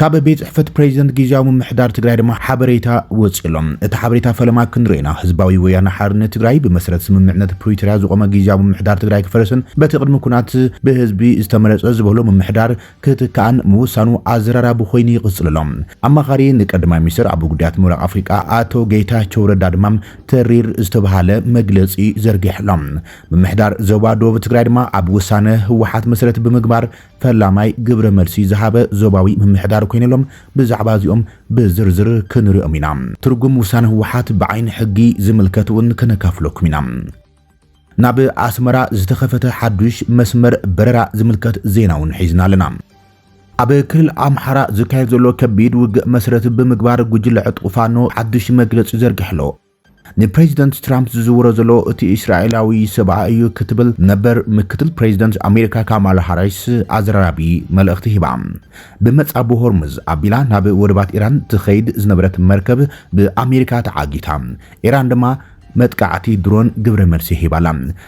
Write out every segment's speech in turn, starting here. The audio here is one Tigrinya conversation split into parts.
ካብ ቤት ጽሕፈት ፕሬዚደንት ግዝያዊ ምምሕዳር ትግራይ ድማ ሓበሬታ ወፂኡ ኣሎ። እቲ ሓበሬታ ፈለማ ክንሪኦ ኢና። ህዝባዊ ወያነ ሓርነት ትግራይ ብመሰረት ስምምዕነት ፕሪቶርያ ዝቖመ ግዝያዊ ምምሕዳር ትግራይ ክፈርስን በቲ ቅድሚ ኩናት ብህዝቢ ዝተመረፀ ዝበሎ ምምሕዳር ክትካእን ምውሳኑ ኣዘራራቢ ኮይኑ ይቕፅል ኣሎ። ኣማኻሪ ንቀዳማይ ሚኒስትር ኣብ ጉዳያት ምብራቕ ኣፍሪቃ ኣቶ ጌታቸው ረዳ ድማ ተሪር ዝተብሃለ መግለፂ ዘርጊሑ ኣሎ። ምምሕዳር ዞባ ዶብ ትግራይ ድማ ኣብ ውሳነ ህወሓት መሰረት ብምግባር ፈላማይ ግብረ መልሲ ዝሃበ ዞባዊ ምምሕዳር ኮይኑ ኣሎ። ብዛዕባ እዚኦም ብዝርዝር ክንሪኦም ኢና። ትርጉም ውሳነ ህወሓት ብዓይኒ ሕጊ ዝምልከት እውን ከነካፍለኩም ኢና። ናብ ኣስመራ ዝተኸፈተ ሓዱሽ መስመር በረራ ዝምልከት ዜና እውን ሒዝና ኣለና። ኣብ ክልል ኣምሓራ ዝካየድ ዘሎ ከቢድ ውግእ መስረት ብምግባር ጉጅለ ዕጥቁ ፋኖ ሓዱሽ መግለፂ ዘርጊሑ ኣሎ። ንፕሬዚደንት ትራምፕ ዝዝውሮ ዘሎ እቲ እስራኤላዊ ሰብኣ እዩ ክትብል ነበር ምክትል ፕሬዚደንት ኣሜሪካ ካማላ ሃሪስ ኣዘራራቢ መልእኽቲ ሂባ። ብመጻብቦ ሆርሙዝ ኣቢላ ናብ ወደባት ኢራን ትኸይድ ዝነበረት መርከብ ብኣሜሪካ ተዓጊታ፣ ኢራን ድማ መጥቃዕቲ ድሮን ግብረ መልሲ ሂባ'ላ።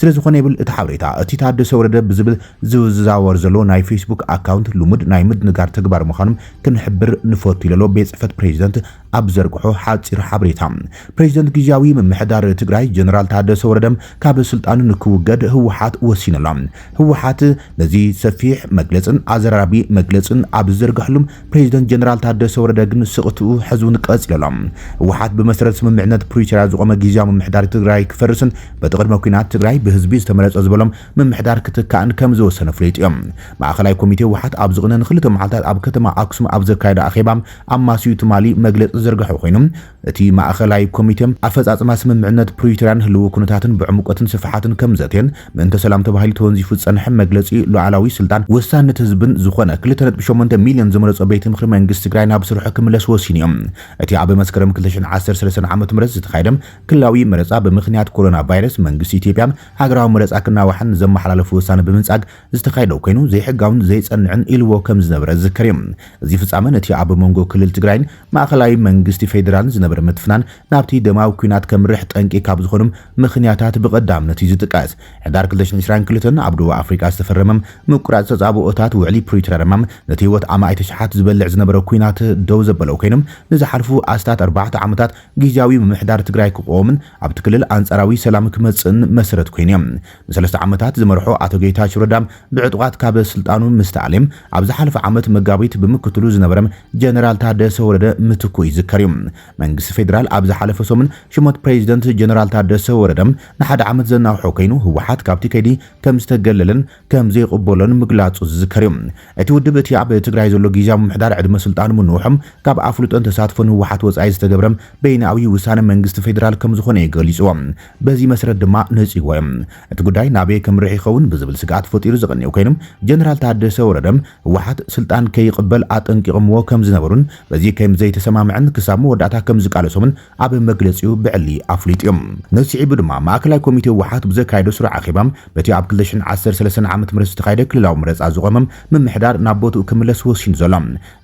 ስለዝኾነ ይብል እቲ ሓበሬታ፣ እቲ ታደሰ ወረደ ብዝብል ዝዘዋወር ዘሎ ናይ ፌስቡክ ኣካውንት ልሙድ ናይ ምድንጋር ተግባር ምዃኑ ክንሕብር ንፈቱ ኢለሎ ቤት ፅሕፈት ፕሬዚደንት ኣብ ዝዘርግሖ ሓፂር ሓበሬታ። ፕሬዚደንት ግዝያዊ ምምሕዳር ትግራይ ጀነራል ታደሰ ወረደ ካብ ስልጣኑ ንክውገድ ህወሓት ወሲኑ ኣሎ። ህወሓት ነዚ ሰፊሕ መግለፅን ኣዘራራቢ መግለፅን ኣብ ዝዘርገሐሉ፣ ፕሬዚደንት ጀነራል ታደሰ ወረደ ግን ስቕትኡ ሕዚ እውን ቀፂሉ ኣሎ። ህወሓት ብመሰረት ስምምዕነት ፕሪቶርያ ዝቖመ ጊዚያዊ ምምሕዳር ትግራይ ክፈርስን በቲ ቅድመ ኲናት ትግራይ ብህዝቢ ዝተመረፀ ዝበሎም ምምሕዳር ክትካእን ከምዝወሰነ ፍሊጡ እዩ። ማእኸላይ ኮሚቴ ህወሓት ኣብ ዝቕነ ንክልተ መዓልታት ኣብ ከተማ ኣክሱም ኣብ ዘካየዶ ኣኼባ ኣማስዩ ትማሊ መግለፂ ዝዘርገሐ ኾይኑ እቲ ማእኸላይ ኮሚቴ፣ ኣፈፃፅማ ስምምዕነት ፕሪቶርያን ህልዊ ኩነታትን ብዕምቆትን ስፍሓትን ከምዘትየን ምእንተ ሰላም ተባሂሉ ተወንዚፉ ዝፀንሐ መግለፂ ሉኣላዊ ስልጣን ወሳንነት ህዝብን ዝኾነ ክልተ ነጥቢ ሸሞንተ ሚሊዮን ዝመረፆ ቤት ምኽሪ መንግስቲ ትግራይ ናብ ስርሑ ክምለስ ወሲኑ እዩ። እቲ ኣብ መስከረም ክልተ ሽሕን ዓሰርተ ሰለስተን ዓመተ ምህረት ዝተኻየደ ክልላዊ መረፃ ብምኽንያት ኮሮና ቫይረስ መንግስቲ ኢትዮጵያ ሃገራዊ መረፃ ክናዋሕን ዘመሓላለፎ ወሳነ ብምንፃግ ዝተኻየደ ኮይኑ ዘይሕጋውን ዘይጸንዕን ኢልዎ ከም ዝነበረ ዝዝከር እዩ። እዚ ፍጻመ ነቲ ኣብ መንጎ ክልል ትግራይን ማእኸላይ መንግስቲ ፌደራልን ዝነበረ ምትፍናን ናብቲ ደማዊ ኲናት ከምርሕ ጠንቂ ካብ ዝኾኑም ምኽንያታት ብቐዳምነት እዩ ዝጥቀስ። ሕዳር ክልተ ሽሕን ዕስራን ክልተን ኣብ ደቡብ ኣፍሪቃ ዝተፈረመም ምቁራጽ ተጻብኦታት ውዕሊ ፕሪቶርያ ድማ ነቲ ህይወት ኣማኢት ኣሽሓት ዝበልዕ ዝነበረ ኲናት ደው ዘበሎ ኮይኑ ንዝሓልፉ ኣስታት ኣርባዕተ ዓመታት ጊዚያዊ ምምሕዳር ትግራይ ክቖምን ኣብቲ ክልል ኣንጻራዊ ሰላም ክመጽእን መሰረት ኮይኑ እዩ። ንሰለስተ ዓመታት ዝመርሖ ኣቶ ጌታቸው ረዳ ብዕጡቓት ካብ ስልጣኑ ምስ ተኣልየ ኣብ ዝሓለፈ ዓመት መጋቢት ብምክትሉ ዝነበረ ጀነራል ታደሰ ወረደ ምትኩ ይዝከር እዩ። መንግስቲ ፌደራል ኣብ ዝሓለፈ ሰሙን ሽመት ፕሬዚደንት ጀነራል ታደሰ ወረደ ንሓደ ዓመት ዘናውሖ ከይኑ ህወሓት ካብቲ ከይዲ ከምዝተገለለን ከምዘይቕበሎን ምግላፁ ዝዝከር እዩ። እቲ ውድብ እቲ ኣብ ትግራይ ዘሎ ጊዚያዊ ምምሕዳር ዕድመ ስልጣኑ ምንውሖም ካብ ኣፍልጦን ተሳትፎን ህወሓት ወፃኢ ዝተገብረ በይንኣዊ ውሳነ መንግስቲ ፌዴራል ከምዝኾነ እዩ ገሊፁዎ። በዚ መሰረት ድማ ነፂግዎ እዩ። እቲ ጉዳይ ናበይ ከምርሕ ይኸውን ብዝብል ስግኣት ፈጢሩ ዝቐንዩ ኮይኑ ጀነራል ታደሰ ወረደ ህወሓት ስልጣን ከይቕበል ኣጠንቂቐምዎ ከምዝነበሩን በዚ ከምዘይተሰማምዐን ክሳብ መወዳእታ ከምዝቃለሶምን ኣብ መግለጺኡ ብዕሊ ኣፍሊጡ እዩ። ነዚ ስዒቡ ድማ ማእከላይ ኮሚቴ ህወሓት ብዘካየዶ ስሩዕ ኣኼባ በቲ ኣብ ክልተ ሽሕን ዓሰርተ ሰለስተን ዓመተ ምህረት ዝተኻየደ ክልላዊ መረጻ ዝቖመ ምምሕዳር ናብ ቦትኡ ክምለስ ወሲኑ ዘሎ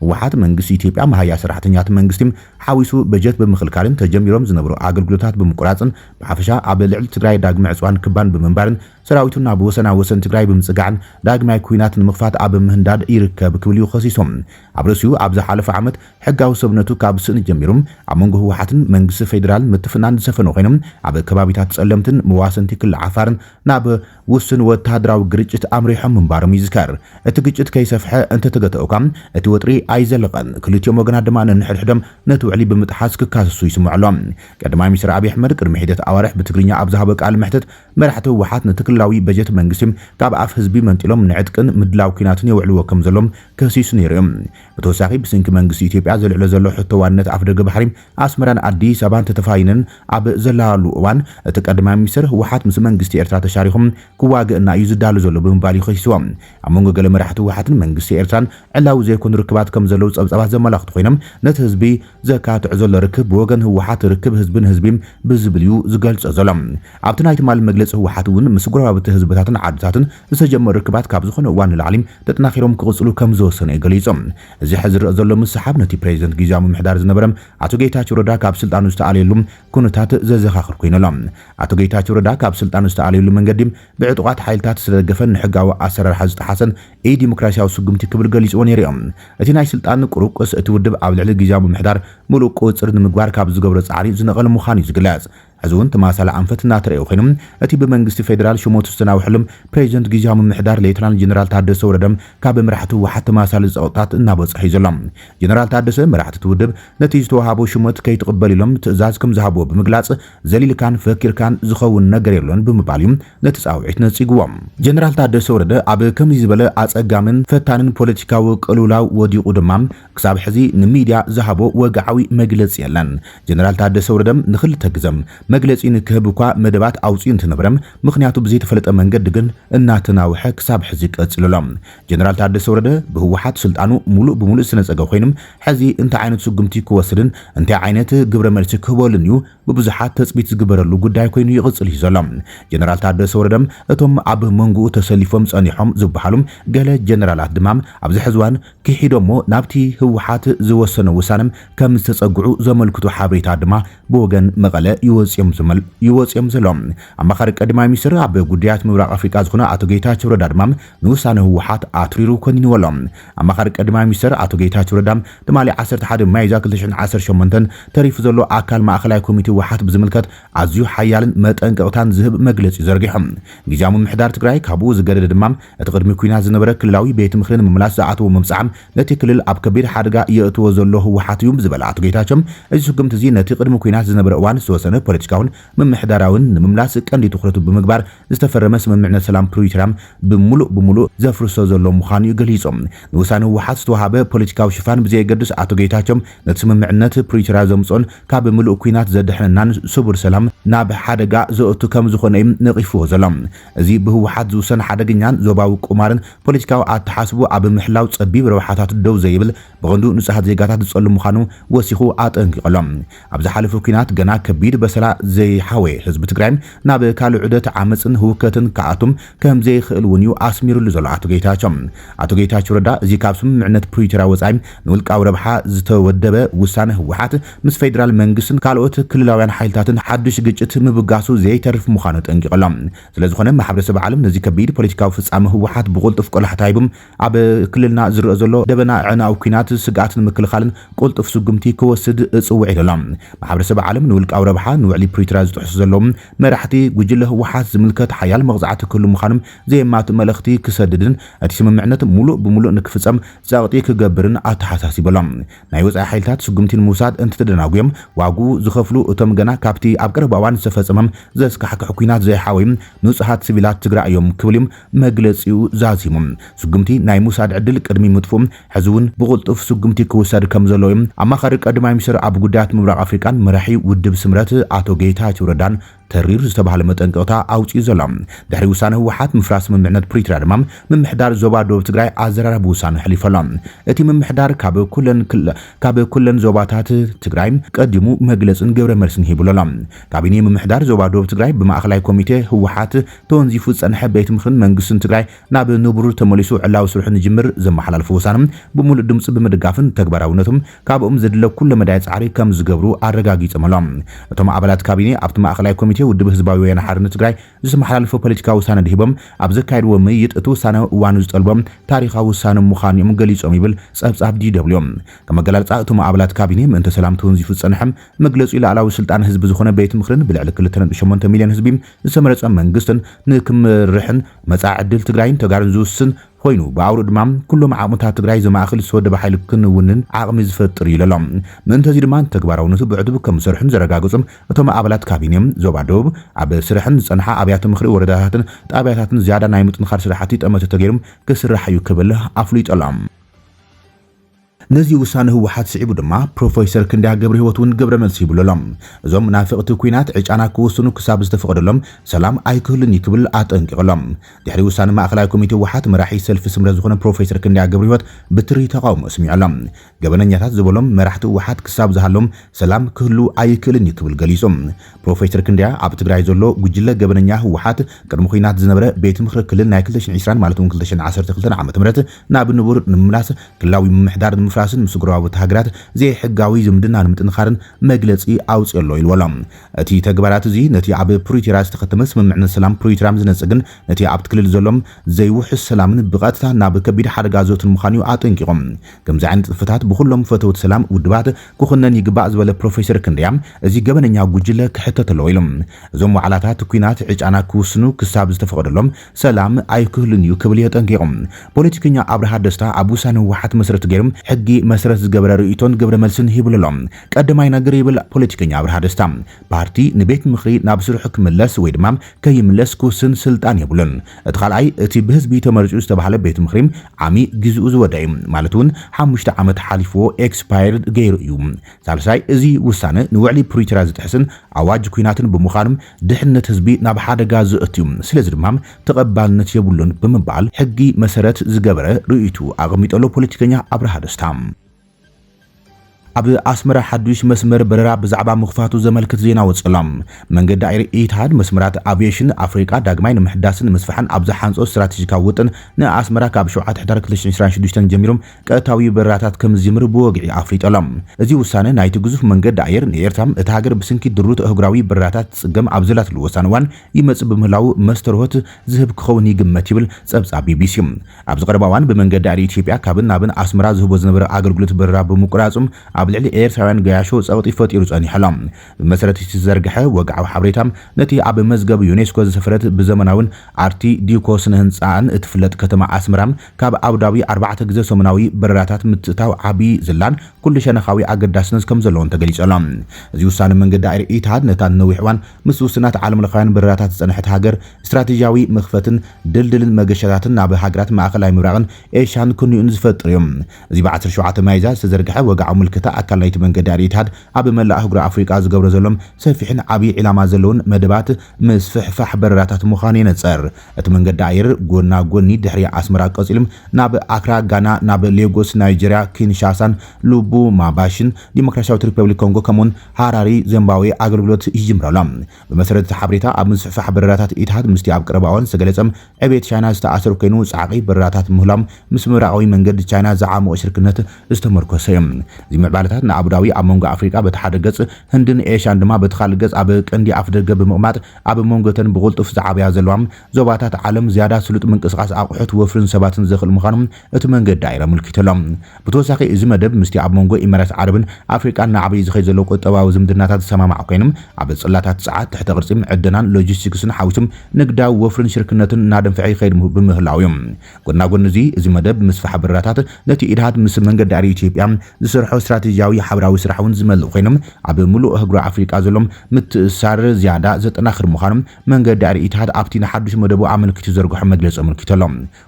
ህወሓት መንግስቲ ኢትዮጵያ መሃያ ሰራሕተኛታት መንግስቲ ሓዊሱ በጀት ብምኽልካልን ተጀሚሮም ዝነበሩ ኣገልግሎታት ብምቁራጽን ብሓፈሻ ኣብ ልዕሊ ትግራይ ዳግመ ዕጽዋን ክባን ብምንባርን ሰራዊቱ ናብ ወሰና ወሰን ትግራይ ብምጽጋዕን ዳግማይ ኩናት ንምኽፋት ኣብ ምህንዳድ ይርከብ ክብል እዩ ከሲሱ። ኣብ ርእሲኡ ኣብ ዝሓለፈ ዓመት ሕጋዊ ሰብነቱ ካብ ስእኒ ጀሚሩ ኣብ መንጎ ህወሓትን መንግስቲ ፌዴራል ምትፍናን ዝሰፈነ ኮይኑ ኣብ ከባቢታት ፀለምትን መዋሰንቲ ክሊ ዓፋር ናብ ውሱን ወተሃደራዊ ግርጭት ኣምሪሖም ምንባሮም ይዝከር። እቲ ግጭት ከይሰፍሐ እንተተገተኦ እኳ እቲ ወጥሪ ኣይዘለቐን። ክልቲኦም ወገናት ድማ ነንሕድሕዶም ነቲ ውዕሊ ብምጥሓስ ክካሰሱ ይስምዑ ኣሎ። ቀዳማይ ሚኒስትር ኣብይ ኣሕመድ ቅድሚ ሒደት ኣዋርሕ ብትግርኛ ኣብ ዝሃቦ ቃለ መሕትት መራሕቲ ህወሓት ነቲ ክልላዊ በጀት መንግስቲ ካብ ኣፍ ህዝቢ መንጢሎም ንዕጥቅን ምድላው ኲናትን የውዕልዎ ከምዘሎም ከሲሱ ነይሩ እዩ። ብተወሳኺ ብስንኪ መንግስቲ ኢትዮጵያ ዘልዕሎ ዘሎ ሕቶ ዋንነት ኣፍደገ ባሕሪ ኣስመራን ኣዲስ ኣበባን ተተፋይነን ኣብ ዘላሉ እዋን እቲ ቀዳማይ ሚኒስተር ህወሓት ምስ መንግስቲ ኤርትራ ተሻሪኹም ክዋገእና እዩ ዝዳሎ ዘሎ ብምባል ይኸሲዎ። ኣብ መንጎ ገለ መራሕቲ ህወሓትን መንግስቲ ኤርትራን ዕላዊ ዘይኮኑ ርክባት ከም ዘለዉ ጸብጻባት ዘመላኽቱ ኮይኖም ነቲ ህዝቢ ዘካትዕ ዘሎ ርክብ ብወገን ህወሓት ርክብ ህዝቢ ንህዝቢ ብዝብል እዩ ዝገልጾ ዘሎ። ኣብቲ ናይ ትማሊ መግለጺ ህወሓት እውን ምስ ጎረባብቲ ህዝብታትን ዓድታትን ዝተጀመሩ ርክባት ካብ ዝኾነ እዋን ንላዕሊ ተጠናኺሮም ክቕፅሉ ከምዝወሰኑ እዩ ገሊፁ። እዚ ሕዚ ዝረኣ ዘሎ ምስሕሓብ ነቲ ፕሬዚደንት ጊዚያዊ ምምሕዳር ዝነበረ ኣቶ ጌታቸው ረዳ ካብ ስልጣኑ ዝተኣለየሉ ኩነታት ዘዘኻኽር ኮይኑ ኣሎ። ኣቶ ጌታቸው ረዳ ካብ ስልጣኑ ዝተኣለየሉ መንገዲ ብዕጡቓት ሓይልታት ዝተደገፈን ንሕጋዊ ኣሰራርሓ ዝጠሓሰን ኢ-ዲሞክራሲያዊ ስጉምቲ ክብል ገሊፅዎ ነይሩ እዩ። እቲ ናይ ስልጣን ቁሩቁስ እቲ ውድብ ኣብ ልዕሊ ጊዚያዊ ምምሕዳር ሙሉእ ቁፅፅር ንምግባር ካብ ዝገብሮ ፃዕሪ ዝነቐለ ምዃኑ እዩ ዝግለፅ። ሕዚ እውን ተመሳሳሊ ኣንፈት እናተረኣየ ኮይኑ፣ እቲ ብመንግስቲ ፌደራል ሸሞቱ ዝተናውሐሉ ፕሬዚደንት ጊዚያዊ ምምሕዳር ሌተናል ጀነራል ታደሰ ወረደ ካብ መራሕቲ ህወሓት ተመሳሳሊ ፀቕጥታት እናበፅሖ እዩ ዘሎ። ጀነራል ታደሰ መራሕቲ እቲ ውድብ ነቲ ዝተውሃቦ ሹመት ከይትቕበል ኢሎም ትእዛዝ ከምዝሃብዎ ብምግላፅ ዘሊልካን ፈኪርካን ዝኸውን ነገር የሎን ብምባል እዩ ነቲ ፃውዒት ነፂግዎ። ጀነራል ታደሰ ወረደ ኣብ ከምዚ ዝበለ ኣፀጋምን ፈታንን ፖለቲካዊ ቅልውላው ወዲቑ ድማ ክሳብ ሕዚ ንሚድያ ዝሃቦ ወግዓዊ መግለፂ የለን። ጀነራል ታደሰ ወረደ ንክልተ ግዘ መግለፂ ንክህብ እኳ መደባት ኣውፂኡ እንትነበረ ምኽንያቱ ብዘይተፈለጠ መንገዲ ግን እናተናውሐ ክሳብ ሕዚ ቀፂሉ ኣሎ። ጀነራል ታደሰ ወረደ ብህወሓት ስልጣኑ ሙሉእ ብሙሉእ ዝተነፀገ ኮይኑ ሕዚ እንታይ ዓይነት ስጉምቲ ክወስድን እንታይ ዓይነት ግብረ መልሲ ክህበሉን እዩ ብብዙሓት ተፅቢት ዝግበረሉ ጉዳይ ኮይኑ ይቕፅል እዩ ዘሎ። ጀነራል ታደሰ ወረደ እቶም ኣብ መንጉኡ ተሰሊፎም ፀኒሖም ዝብሃሉ ገለ ጀነራላት ድማ ኣብዚ ሕዚ እዋን ኪሒዶሞ ናብቲ ህወሓት ዝወሰኖ ውሳነ ከም ዝተፀግዑ ዘመልክቱ ሓበሬታ ድማ ብወገን መቐለ ይወፅእዮም ዘሎ። ኣማኻሪ ቀዳማይ ሚኒስትር ኣብ ጉዳያት ምብራቕ ኣፍሪቃ ዝኾነ ኣቶ ጌታቸው ረዳ ድማ ንውሳነ ህወሓት ኣትሪሩ ኮኒንዎ ኣሎ። ኣማኻሪ ቀዳማይ ሚኒስትር ኣቶ ጌታቸው ረዳ ትማሊ ዓሰርተ ሓደ ሚያዝያ ክልተ ሽሕን ዓሰርተ ሸሞንተን ተሪፉ ዘሎ ኣካል ማእኸላይ ኮሚቴ ህወሓት ብዝምልከት ኣዝዩ ሓያልን መጠንቀቕታን ዝህብ መግለጺ ዘርጊሑ። ግዝያዊ ምምሕዳር ትግራይ ካብኡ ዝገደደ ድማ እቲ ቅድሚ ኲናት ዝነበረ ክልላዊ ቤት ምኽሪ ንምምላስ ዝኣተዎ መብጽዓ ነቲ ክልል ኣብ ከቢድ ሓደጋ የእትዎ ዘሎ ህወሓት እዩ ዝበለ ኣቶ ጌታቸው እዚ ስጉምቲ እዚ ነቲ ቅድሚ ኲናት ዝነበረ እዋን ዝተወሰነ ፖለቲካውን ምምሕዳራውን ንምምላስ ቀንዲ ትኹረቱ ብምግባር ዝተፈረመ ስምምዕነት ሰላም ፕሪቶርያ ብሙሉእ ብሙሉእ ዘፍርሶ ዘሎ ምዃኑ'ዩ ገሊጹ። ንውሳነ ህወሓት ዝተወሃበ ፖለቲካዊ ሽፋን ብዘየገድስ ኣቶ ጌታቸው ነቲ ስምምዕነት ፕሪቶርያ ዘምጽኦን ካብ ምሉእ ኲናት ዘድሕነናን ስቡር ሰላም ናብ ሓደጋ ዘእቱ ከምዝኾነ'ዩ ነቒፍዎ ዘሎ። እዚ ብህወሓት ዝውሰን ሓደገኛን ዞባዊ ቁማርን ፖለቲካዊ ኣተሓስብኡ ኣብ ምሕላው ጸቢብ ረብሓታት ደው ዘይብል ብቐንዱ ንጹሃት ዜጋታት ዝጸሉ ምዃኑ ወሲኹ ኣጠንቂቑ'ሎ። ኣብ ዝሓለፈ ኲናት ገና ከቢድ በሰላ ዘይሓወየ ህዝቢ ትግራይ ናብ ካልእ ዑደት ዓመጽን ህውከትን ክኣቱም ከምዘይኽእል እውን እዩ ኣስሚርሉ ዘሎ ኣቶ ጌታቸው። ኣቶ ጌታቸው ረዳ እዚ ካብ ስምምዕነት ፕሪቶርያ ወጻኢ ንውልቃዊ ረብሓ ዝተወደበ ውሳነ ህወሓት ምስ ፌደራል መንግስትን ካልኦት ክልላውያን ሓይልታትን ሓዱሽ ግጭት ምብጋሱ ዘይተርፍ ምዃኑ ኣጠንቂቑ ኣሎ። ስለዝኾነ ማሕበረሰብ ዓለም ነዚ ከቢድ ፖለቲካዊ ፍጻመ ህወሓት ብቕልጡፍ ቆላሕታ ሂቡ ኣብ ክልልና ዝረእ ዘሎ ደበና ኣዕናዊ ኲናት ስግኣት ንምክልኻልን ቁልጡፍ ስጉምቲ ክወስድ እጽውዕ ኢሉ ኣሎ። ማሕበረሰብ ዓለም ንውልቃዊ ረብሓ ንውዕሊ ፕሪቶርያ ዝጥሕሱ ዘለዉ መራሕቲ ጉጅለ ህወሓት ዝምልከት ሓያል መቕጻዕቲ ክህሉ ምዃኑ ዘየማትእ መልእኽቲ ክሰድድን እቲ ስምምዕነት ሙሉእ ብሙሉእ ንክፍጸም ጸቕጢ ክገብርን ኣተሓሳሲቡ ኣሎ። ናይ ወጻኢ ሓይልታት ስጉምቲ ንምውሳድ እንትተደናጉዮም ዋግኡ ዝኸፍሉ እቶም ገና ካብቲ ኣብ ቀረባ እዋን ዝተፈጸመ ዘስካሕክሕ ኲናት ዘይሓወዩ ንጹሃት ስቪላት ትግራይ እዮም ክብል እዩ መግለጺኡ ዛዚሙ። ስጉምቲ ናይ ምውሳድ ዕድል ቅድሚ ምጥፍኡ፣ ሕዚ'ውን ብቕልጡፍ ስጉምቲ ክውሰድ ከምዘለዎ'ዩ ኣማኻሪ ቀዳማይ ሚኒስተር ኣብ ጉዳያት ምብራቕ ኣፍሪቃን መራሒ ውድብ ስምረት ኣቶ ጌታቸው ረዳን ተሪር ዝተባህለ መጠንቀቕታ ኣውጺኡ ዘሎ። ድሕሪ ውሳነ ህወሓት ምፍራስ ስምምዕነት ፕሪቶርያ ድማ፣ ምምሕዳር ዞባ ዶብ ትግራይ ኣዘራራቢ ውሳነ ኣሕሊፉ ኣሎ። እቲ ምምሕዳር ካብ ኩለን ክል ካብ ኩለን ዞባታት ትግራይ ቀዲሙ መግለጽን ግብረ መልስን ሂብሉ ኣሎ። ካቢኔ ምምሕዳር ዞባ ዶብ ትግራይ ብማእከላይ ኮሚቴ ህወሓት ተወንዚፉ ዝፀንሐ ቤት ምኽርን መንግስትን ትግራይ ናብ ንቡሩ ተመሊሱ ዕላዊ ስርሑ ንጅምር ዘመሓላለፎ ውሳነ ብሙሉእ ድምፂ ብምድጋፍን ንተግባራዊነቱ ካብኦም ዘድለ ኩለ መዳይ ፃዕሪ ከምዝገብሩ ኣረጋጊፆም ኣሎም። እቶም ኣባላት ካቢኔ ኣብቲ ማእኸላይ ኮሚቴ ውድብ ህዝባዊ ወያነ ሓርነት ትግራይ ዝተመሓላለፈ ፖለቲካዊ ውሳነ ድሂቦም ኣብ ዘካየድዎ ምይይጥ እቲ ውሳነ እዋኑ ዝጠልቦ ታሪኻዊ ውሳነ ምዃኑ እዮም ገሊፆም ይብል ፀብፃብ DW። ከም ኣገላልፃ እቶም ኣባላት ካቢኔ ምእንተ ሰላም ተወንዚፉ ዝፀንሐ መግለፂኡ ልኣላዊ ስልጣን ህዝቢ ዝኾነ ቤት ምኽርን ብልዕሊ ክልተ ነጥቢ ሸሞንተ ሚልዮን ህዝቢ ዝተመረፀ መንግስትን ንክምርሕን መፃኢ ዕድል ትግራይን ተጋሩን ዝውስን ኾይኑ ብኣውርኡ ድማ ኩሎም ዓቕምታት ትግራይ ዘማእኽል ዝተወደበ ሓይሊ ክንውንን ዓቕሚ ዝፈጥር እዩ ኢለሎ። ምእንተ እዚ ድማ ንተግባራውነቱ ብዕቱብ ከምዝሰርሑን ዘረጋገፁ እቶም ኣባላት ካቢኔ፣ ዞባ ደቡብ ኣብ ስርሐን ዝፀንሓ ኣብያተ ምኽሪ ወረዳታትን ጣብያታትን ዝያዳ ናይ ምጥንኻር ስራሕቲ ጠመተ ተገይሩ ክስራሕ እዩ ክብል ኣፍሊጡ ኣሎ። ነዚ ውሳነ ህወሓት ስዒቡ ድማ ፕሮፈይሰር ክንደያ ገብረሂወት እውን ግብረመልሲ ሂብሉ ኣሎ። እዞም መናፍቕቲ ኩናት ዕጫና ክውስኑ ክሳብ ዝተፈቐደሎም ሰላም ኣይክህሉን እዩ ክብል ኣጠንቂቑ ኣሎ። ድሕሪ ውሳነ ማእኸላይ ኮሚቴ ህወሓት መራሒ ሰልፊ ስምረት ዝኾነ ፕሮፈይሰር ክንደያ ገብረሂወት ብትሪ ተቓውሞ ኣስሚዑ ኣሎ። ገበነኛታት ዝበሎም መራሕቲ ህወሓት ክሳብ ዝሃለዎም ሰላም ክህሉ ኣይክእልን እዩ ክብል ገሊፁ። ፕሮፌሰር ክንደያ ኣብ ትግራይ ዘሎ ጉጅለ ገበነኛ ህወሓት ቅድሚ ኹናት ዝነበረ ቤት ምኽሪ ክልል ናይ ክልተ ሽሕን ዒስራን ማለት እውን ክልተ ሽሕን ዓሰርተ ክልተን ዓመተ ምህረት ናብ ንቡር ንምምላስ ክልላዊ ምምሕዳር ንምፍራስን ምስ ጎረባብቲ ሃገራት ዘይሕጋዊ ዝምድና ንምጥንኻርን መግለፂ ኣውፂኦ ኣሎ ኢልዎ ኣሎ። እቲ ተግባራት እዚ ነቲ ኣብ ፕሪቶርያ ዝተኸተመ ስምምዕነት ሰላም ፕሪቶርያ ዝነፅግን ነቲ ኣብቲ ክልል ዘሎ ዘይውሑስ ሰላምን ብቐጥታ ናብ ከቢድ ሓደጋ ዘእቱን ምዃኑ እዩ ኣጠንቂቑ። ከምዚ ዓይነት ጽፍፍታት ብኹሎም ፈተውቲ ሰላም ውድባት ክኹነን ይግባእ ዝበለ ፕሮፌሰር ክንደያ፣ እዚ ገበነኛ ጉጅለ ክሕተት ኣለዎ ኢሉ። እዞም ዋዕላታት ኲናት ዕጫና ክውስኑ ክሳብ ዝተፈቐደሎም ሰላም ኣይክህሉን እዩ ክብል የጠንቂቑ። ፖለቲከኛ ኣብርሃ ደስታ ኣብ ውሳነ ህወሓት መሰረት ገይሩ ሕጊ መሰረት ዝገበረ ርእይቶን ግብረ መልስን ሂብሉ ኣሎ። ቀዳማይ ነገር ይብል ፖለቲከኛ ኣብርሃ ደስታ፣ ፓርቲ ንቤት ምኽሪ ናብ ስርሑ ክምለስ ወይ ድማ ከይምለስ ክውስን ስልጣን የብሉን። እቲ ካልኣይ እቲ ብህዝቢ ተመሪጹ ዝተባህለ ቤት ምኽሪ ዓሚ ግዜኡ ዝወድኣ እዩ ማለት እውን ሓሙሽተ ዓመት ሓሊፍዎ ኤክስፓየርድ ገይሩ እዩ። ሳልሳይ እዚ ውሳነ ንውዕሊ ፕሪቶርያ ዝጥሕስን ኣዋጅ ኲናትን ብምዃኑ ድሕነት ህዝቢ ናብ ሓደጋ ዘእቱ እዩ ስለዚ ድማ ተቐባልነት የብሉን ብምባል ሕጊ መሰረት ዝገበረ ርእይትኡ ኣቐሚጡ ኣሎ ፖለቲከኛ ኣብርሃ ደስታ። ኣብ ኣስመራ ሓዱሽ መስመር በረራ ብዛዕባ ምኽፋቱ ዘመልክት ዜና ወጺኡ ኣሎ። መንገዲ ኣየር ኢትሃድ፣ መስመራት ኣቭየሽን ኣፍሪቃ ዳግማይ ንምሕዳስን ንምስፋሕን ኣብ ዝሓንጾ ስትራተጂካዊ ውጥን፣ ንኣስመራ ካብ ሸውዓተ ሕዳር ክልተ ሽሕን ዕስራን ሽዱሽተን ጀሚሩ ቀጥታዊ በረራታት ከም ዝጅምር ብወግዒ ኣፍሊጡ ኣሎ። እዚ ውሳነ ናይቲ ግዙፍ መንገዲ ኣየር፣ ንኤርትራ፣ እታ ሃገር ብስንኪ ድሩት ኣህጉራዊ በረራታት ትጽገም ኣብ ዘላትሉ ወሳኒ እዋን ይመጽእ ብምህላዉ መስተርሆት ዝህብ ክኸውን ይግመት ይብል ጸብጻብ ቢቢሲ። ኣብዚ ቀረባ እዋን ብመንገዲ ኣየር ኢትዮጵያ ካብን ናብን ኣስመራ ዝህቦ ዝነበረ ኣገልግሎት በረራ ብምቁራጹ ኣብ ልዕሊ ኤርትራውያን ገያሾ ጸቕጢ ፈጢሩ ጸኒሑ ኣሎ። ብመሰረት እቲ ዝተዘርግሐ ወግዓዊ ሓበሬታ ነቲ ኣብ መዝገብ ዩኔስኮ ዝሰፈረት ብዘመናዊን ኣርቲ ዲኮ ስነ ህንጻኣን እትፍለጥ ከተማ ኣስመራ ካብ ኣቡዳቢ ኣርባዕተ ግዘ ሰሙናዊ በረራታት ምትእታው ዓቢ ዝላን ኩሉ ሸነኻዊ ኣገዳስነት ከምዘለዎን ተገሊጹ ኣሎ። እዚ ውሳነ መንገዲ ኣየር ኢትሃድ ነታ ንነዊሕ እዋን ምስ ውሱናት ዓለምለኻውያን በረራታት ዝጸንሐት ሃገር፣ ስትራቴጂያዊ መኽፈትን ድልድልን መገሻታትን ናብ ሃገራት ማእከላይ ምብራቕን ኤሽያን ክንዮኡን ዝፈጥር እዩ። እዚ ብ ዓሰርተ ሸውዓተ ሚያዝያ ዝተዘርግሐ ወግዓዊ ምልክታ ኣካል ናይቲ መንገዲ ኣል-ኢትሃድ ኣብ መላእ ኣህጉረ ኣፍሪቃ ዝገብሮ ዘሎን ሰፊሕን ዓቢ ዒላማ ዘለዎን መደባት ምስፍሕፋሕ በረራታት ምዃኑ የነጸር። እቲ መንገዲ ኣየር ጎና ጎኒ ድሕሪ ኣስመራ ቀጺሉ ናብ ኣክራ፣ ጋና፣ ናብ ሌጎስ፣ ናይጀርያ፣ ኪንሻሳን ሉቡማባሽን፣ ዲሞክራሲያዊት ሪፐብሊክ ኮንጎ፣ ከምኡ'ውን ሃራሪ፣ ዚምባብዌ፣ ኣገልግሎት ይጅምር ኣሎ። ብመሰረት እቲ ሓበሬታ፣ ኣብ ምስፍሕፋሕ በረራታት ኢትሃድ ምስቲ ኣብ ቀረባ እዋን ዝተገለጸ ዕብየት ቻይና ዝተኣሳሰር ኮይኑ፣ ጻዕቒ በረራታት ምህላዎም ምስ ምብራቓዊ መንገዲ ቻይና ዝዓሞቐ ሽርክነት ዝተመርኮሰ እዩ። እዚ ምዕባለታት ንኣቡዳቢ ኣብ መንጎ ኣፍሪቃ በቲ ሓደ ገጽ፣ ህንድን ኤሽያን ድማ በቲ ካልእ ገጽ ኣብ ቀንዲ ኣፍደገ ብምቕማጥ ኣብ መንጎ'ተን ብቕልጡፍ ዝዓብያ ዘለዋ ዞባታት ዓለም ዝያዳ ስሉጥ ምንቅስቓስ ኣቑሑት፣ ወፍሪን ሰባትን ዘኽእል ምዃኑ እቲ መንገዲ ኣየር ኣመልኪቱ ኣሎ። ብተወሳኺ እዚ መደብ ምስቲ ኣብ መንጎ ኢመራት ዓረብን ኣፍሪቃን እናዓበየ ዝኸይድ ዘሎ ቁጠባዊ ዝምድናታት ዝሰማማዕ ኮይኑ፣ ኣብ ጽላታት ጸዓት፣ ትሕተ ቅርጺ፣ ዕደናን ሎጂስቲክስን ሓዊሱ ንግዳዊ ወፍሪን ሽርክነትን እናደንፍዐ ይኸይድ ብምህላዉ'ዩ። ጎናጎኒ እዚ፣ እዚ መደብ ምስፋሕ በረራታት ነቲ ኢድሃት ምስ መንገዲ ኣየር ኢትዮጵያ ዝሰርሖ ስትራቴጂያዊ ሓበራዊ ስራሕ'ውን ዝመልእ ኮይኑ፣ ኣብ ምሉእ ኣህጉራዊ ኣፍሪቃ ዘሎ ምትእስሳር ዝያዳ ዘጠናኽር ምዃኑ መንገዲ ኣየር ኢትሃድ ኣብቲ ንሓድሽ መደቡ ኣመልኪቱ ዝዘርግሖ መግለጺ ኣመልኪቱ ኣሎ።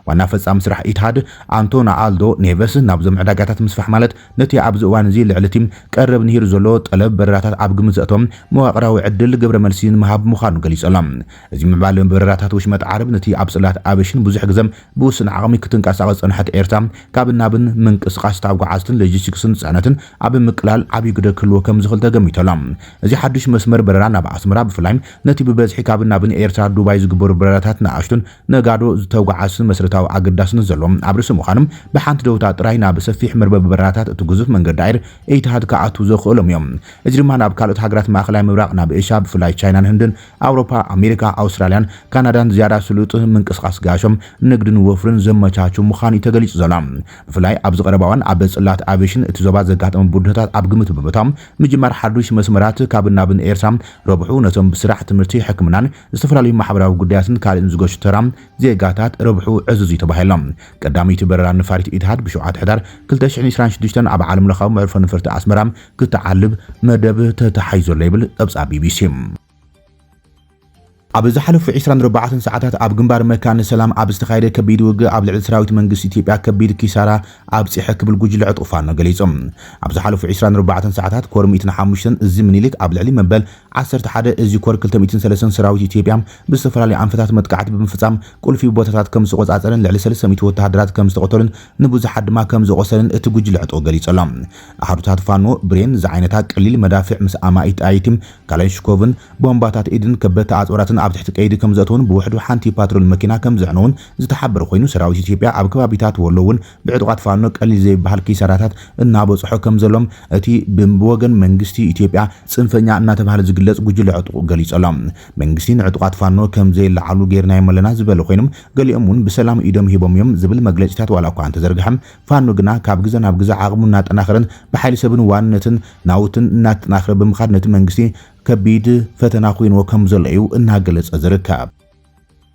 ዋና ፈጻሚ ስራሕ ኢትሃድ ኣንቶና ኣልዶ ኔቨስ ናብዞም ዕዳጋታት ምስፋሕ ማለት ነቲ ኣብዚ እዋን'ዚ ልዕሊ'ቲ ቀረብ ንሂሩ ዘሎ ጠለብ በረራታት ኣብ ግምት ዘእተወ መዋቕራዊ ዕድል ግብረመልሲ ንምሃብ ምዃኑ ገሊጹ'ሎ። እዚ ምዕባለ በረራታት ወሽመጥ ዓረብ ነቲ ኣብ ጽላት ኣቬሽን ብዙሕ ግዘ ብውሱን ዓቕሚ ክትንቀሳቐስ ዝጸንሐት ኤርትራ ካብን ናብን ምንቅስቓስ ታጓዓዝትን ሎጂስቲክስን ጽዕነትን ኣብ ምቅላል ዓብይ ግደ ክህልዎ ከምዝኽል ተገሚቱ'ሎ። እዚ ሓዱሽ መስመር በረራ ናብ ኣስመራ ብፍላይ ነቲ ብበዝሒ ካብን ናብን ኤርትራ ዱባይ ዝግበሩ በረራታት ንኣሽቱን ነጋዶ ዝተጓዓዝትን መሰረታዊ ኣገዳስነት ዘለዎም ኣብ ርእሲ ምዃኖም፣ ብሓንቲ ደውታ ጥራይ ናብ ሰፊሕ መርበብ በረራታት እቲ ግዙፍ መንገዲ ኣየር ኤቲሃድ ክኣትዉ ዘኽእሎም እዮም። እዚ ድማ ናብ ካልኦት ሃገራት ማእከላይ ምብራቕ፣ ናብ ኤሽያ፣ ብፍላይ ቻይናን ህንድን፣ ኣውሮፓ፣ ኣሜሪካ፣ ኣውስትራልያን ካናዳን ዝያዳ ስሉጥ ምንቅስቓስ ጋሾም፣ ንግድን ወፍርን ዘመቻቹ ምዃኑ'ዩ ተገሊጹ ዘሎ። ብፍላይ ኣብዚ ቀረባ እዋን ኣብ ጽላት ኣቪየሽን እቲ ዞባ ዘጋጠመ ብድሆታት ኣብ ግምት ብምእታው፣ ምጅማር ሓዱሽ መስመራት ካብን ናብን ኤርትራ ረብሑ ነቶም ብስራሕ፣ ትምህርቲ፣ ሕክምናን ዝተፈላለዩ ማሕበራዊ ጉዳያትን ካልእን ዝገሹ ተራ ዜጋታት ረብሕኡ ዕዙዝ'ዩ ተባሂሉ። ቀዳመይቲ በረራ ነፋሪት ኢትሃድ ብ ሸውዓተ ሕዳር ክልተ ሽሕን ዒስራን ሽዱሽተን ኣብ ዓለምለኻዊ መዕርፎ ነፈርቲ ኣስመራ ክትዓልብ መደብ ተታሒዙ'ሎ ይብል ጸብጻብ ቢቢሲ። ኣብ ዝሓለፉ ዒስራን ኣርባዕተን ሰዓታት ኣብ ግንባር መካነ ሰላም ኣብ ዝተኻየደ ከቢድ ውግእ ኣብ ልዕሊ ሰራዊት መንግስቲ ኢትዮጵያ ከቢድ ኪሳራ ኣብጽሐ ክብል ጉጅለ ዕጡቕ ፋኖ ገሊጹ። ኣብ ዝሓለፉ ዒስራን ኣርባዕተን ሰዓታት ኮር ሚእትን ሓሙሽተን እዚ ምኒልክ ኣብ ልዕሊ መበል ዓሰርተ ሓደ እዚ ኮር ክልተ ሚእትን ሰለስተን ሰራዊት ኢትዮጵያ ብዝተፈላለዩ ኣንፈታት መጥቃዕቲ ብምፍፃም ቁልፊ ቦታታት ከምዝተቖፃፀረን ልዕሊ ሰለስተ ሚእቲ ወተሃደራት ከምዝተቐተሉን ንብዙሓት ድማ ከምዝቖሰለን እቲ ጉጅለ ዕጥቑ ገሊፁ'ሎ። ኣሃዱታት ፋኖ ብሬን ዝዓይነታ ቀሊል መዳፍዕ ምስ ኣማኢት ጠያይቲ ካላይንሽኮቭን ቦምባታት ኢድን ከበድቲ ኣፅዋራትን ኣብ ትሕቲ ቀይዲ ከምዘእተዉን ብውሕዱ ሓንቲ ፓትሮል መኪና ከምዘዕነዉን ዝተሓበረ ኮይኑ ሰራዊት ኢትዮጵያ ኣብ ከባቢታት ወሎ እውን ብዕጡቓት ፋኖ ቀሊል ዘይበሃል ኪሳራታት እናበፅሖ ከምዘሎም እቲ ብወገን መንግስቲ ኢትዮጵያ ፅንፈኛ እናተብሃለ ዝግለፅ ጉጅለ ዕጡቕ ገሊፁ ኣሎ። መንግስቲ ንዕጡቓት ፋኖ ከምዘይለዓሉ ገይርናዮም ኣለና ዝበለ ኮይኑ ገሊኦም እውን ብሰላም ኢዶም ሂቦም እዮም ዝብል መግለፂታት ዋላ እኳ እንተዘርገሐ ፋኖ ግና ካብ ግዘ ናብ ግዘ ዓቕሙ እናጠናኸረን ብሓይሊ ሰብን ዋንነትን ናውትን እናተጠናኸረ ብምኻድ ነቲ መንግስቲ ከቢድ ፈተና ኮይንዎ ከምዘሎ እዩ እናገለፀ ዝርከብ።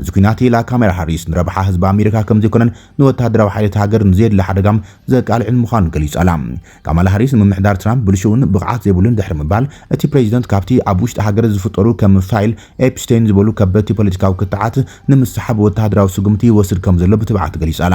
እዚ ኲናት ኢላ ካማላ ሃሪስ ንረብሓ ህዝቢ ኣሜሪካ ከምዘይኮነን ንወተሃደራዊ ሓይልታት ሃገር ንዘየድሊ ሓደጋ ዘቃልዕን ምዃኑ ገሊጻ'ላ። ካማላ ሃሪስ ንምምሕዳር ትራምፕ ብልሹውን ብቕዓት ዘይብሉን ድሕሪ ምባል፣ እቲ ፕረዚደንት ካብቲ ኣብ ውሽጢ ሃገር ዝፍጠሩ ከም ፋይል ኤፕስቴይን ዝበሉ ከበድቲ ፖለቲካዊ ክትዓት ንምስሓብ ወተሃደራዊ ስጉምቲ ይወስድ ከምዘሎ ብትብዓት ገሊጻ'ላ።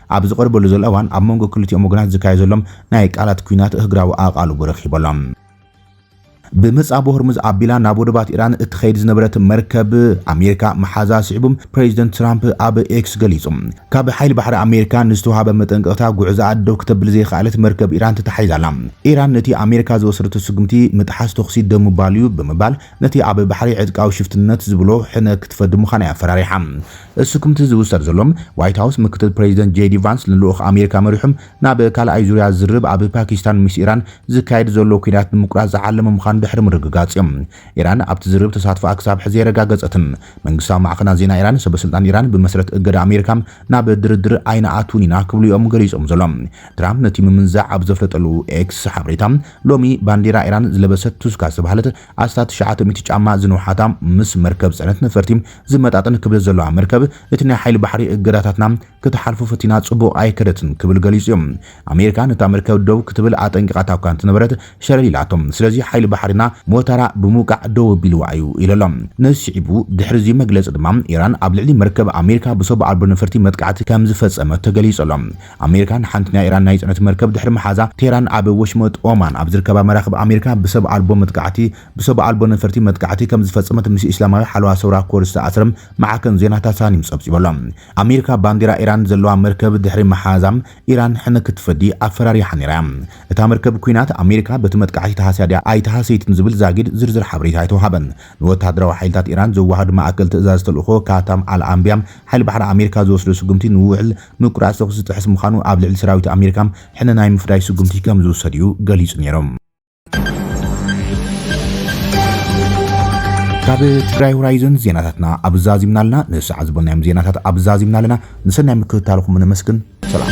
ኣብ ዝቐርበሉ ዘሎ እዋን ኣብ መንጎ ክልቲኦም ወገናት ዝካየድ ዘሎ ናይ ቃላት ኲናት እህግራዊ ኣቓልቦ ረኺቡ ኣሎ። ብምጻብ ሆርሙዝ ኣቢላ ናብ ወደባት ኢራን እትኸይድ ዝነበረት መርከብ ኣሜሪካ ምሓዛ ስዒቡ ፕሬዚደንት ትራምፕ ኣብ ኤክስ ገሊጹ። ካብ ሓይሊ ባሕሪ ኣሜሪካ ንዝተውሃበ መጠንቀቕታ ጉዕዛኣ ደው ክተብል ዘይኸኣለት መርከብ ኢራን ተታሒዛ ኣላ። ኢራን ነቲ ኣሜሪካ ዝወሰደቶ ስጉምቲ ምጥሓስ ተኹሲ ደው ምባል'ዩ ብምባል ነቲ ኣብ ባሕሪ ዕጥቃዊ ሽፍትነት ዝብሎ ሕነ ክትፈዲ ምዃና እያ ኣፈራሪሓ። እሱ ክምቲ ዝውሰድ ዘሎ፣ ዋይት ሃውስ ምክትል ፕረዚደንት ጀይዲ ቫንስ ንልኡኽ ኣሜሪካ መሪሑ ናብ ካልኣይ ዙርያ ዝርርብ ኣብ ፓኪስታን ምስ ኢራን ዝካየድ ዘሎ ኲናት ንምቁራጽ ዝዓለመ ምዃኑ ድሕሪ ምርግጋጽ'ዩ። ኢራን ኣብቲ ዝርርብ ተሳትፎኣ ክሳብ ሕዚ ኣየረጋገጸትን። መንግስታዊ ማዕኸናት ዜና ኢራን፣ ሰበስልጣን ኢራን ብመስረት እገዳ ኣሜሪካ ናብ ድርድር ኣይንኣትውን ኢና ክብሉ'ዮም ገሊጾም ዘሎም። ትራምፕ ነቲ ምምንዛዕ ኣብ ዘፍለጠሉ ኤክስ ሓበሬታ፣ ሎሚ ባንዴራ ኢራን ዝለበሰት ቱስካ ዝተባህለት ኣስታት ትሽዓተ ሚእቲ ጫማ ዝንውሓታ ምስ መርከብ ጽዕነት ነፈርቲ ዝመጣጠን ክብደት ዘለዋ መርከብ እቲ ናይ ሓይሊ ባሕሪ እገዳታትና ክትሓልፎ ፈቲና ጽቡቕ ኣይከደትን ክብል ገሊጹ'ዩ። ኣሜሪካ ነታ መርከብ ደው ክትብል ኣጠንቂቓታ'ኳ እንተነበረት ሸለል ኢላቶ። ስለዚ ሓይሊ ባሕሪና ሞታራ ብምውቃዕ ደው ኣቢልዋ'ዩ ኢሉ'ሎ። ነዚ ስዒቡ ድሕሪ'ዚ መግለጺ ድማ ኢራን ኣብ ልዕሊ መርከብ ኣሜሪካ ብሰቡ ኣልቦ ነፈርቲ መጥቃዕቲ ከምዝፈጸመት ተገሊጹ'ሎ። ኣሜሪካ ንሓንቲ ናይ ኢራን ናይ ጽዕነት መርከብ ድሕሪ ምሓዛ፣ ቴህራን ኣብ ወሽመጥ ኦማን ኣብ ዝርከባ መራኽብ ኣሜሪካ ብሰብ ኣልቦ መጥቃዕቲ ብሰብ ኣልቦ ነፈርቲ መጥቃዕቲ ከምዝፈጸመት ምስ እስላማዊ ሓለዋ ሰውራ ኮር ዝተኣስረ ማዕከን ዜና ታሳኒም ጸብጺቡ ኣሎ። ኣሜሪካ ባንዴራ ኢራን ዘለዋ መርከብ ድሕሪ ምሓዛ፣ ኢራን ሕነ ክትፈዲ ኣፈራሪሓ ነይራ እያ። እታ መርከብ ኲናት ኣሜሪካ በቲ መጥቃዕቲ ተሃስያ ድያ ኣይተሃሰይትን ዝብል ዛጊድ ዝርዝር ሓበሬታ ኣይተውሃበን። ንወተሃደራዊ ሓይልታት ኢራን ዘወሃህድ ማእከል ትእዛዝ ተልእኾ ካታም ኣል ኣንብያ፣ ሓይሊ ባሕሪ ኣሜሪካ ዝወስዶ ስጉምቲ ንውዕል ምቁራጽ ተኹሲ ዝጥሕስ ምዃኑ ኣብ ልዕሊ ሰራዊት ኣሜሪካ ሕነ ናይ ምፍዳይ ስጉምቲ ከም ዝውሰድ'ዩ ገሊጹ ነይሩ። ካብ ትግራይ ሆራይዘን ዜናታትና ኣብ ዛዚምና ኣለና። ንሰዓት ዝበልናዮም ዜናታት ኣብ ዛዚምና ኣለና። ንሰናይ ምክትታልኹም ነመስግን። ሰላም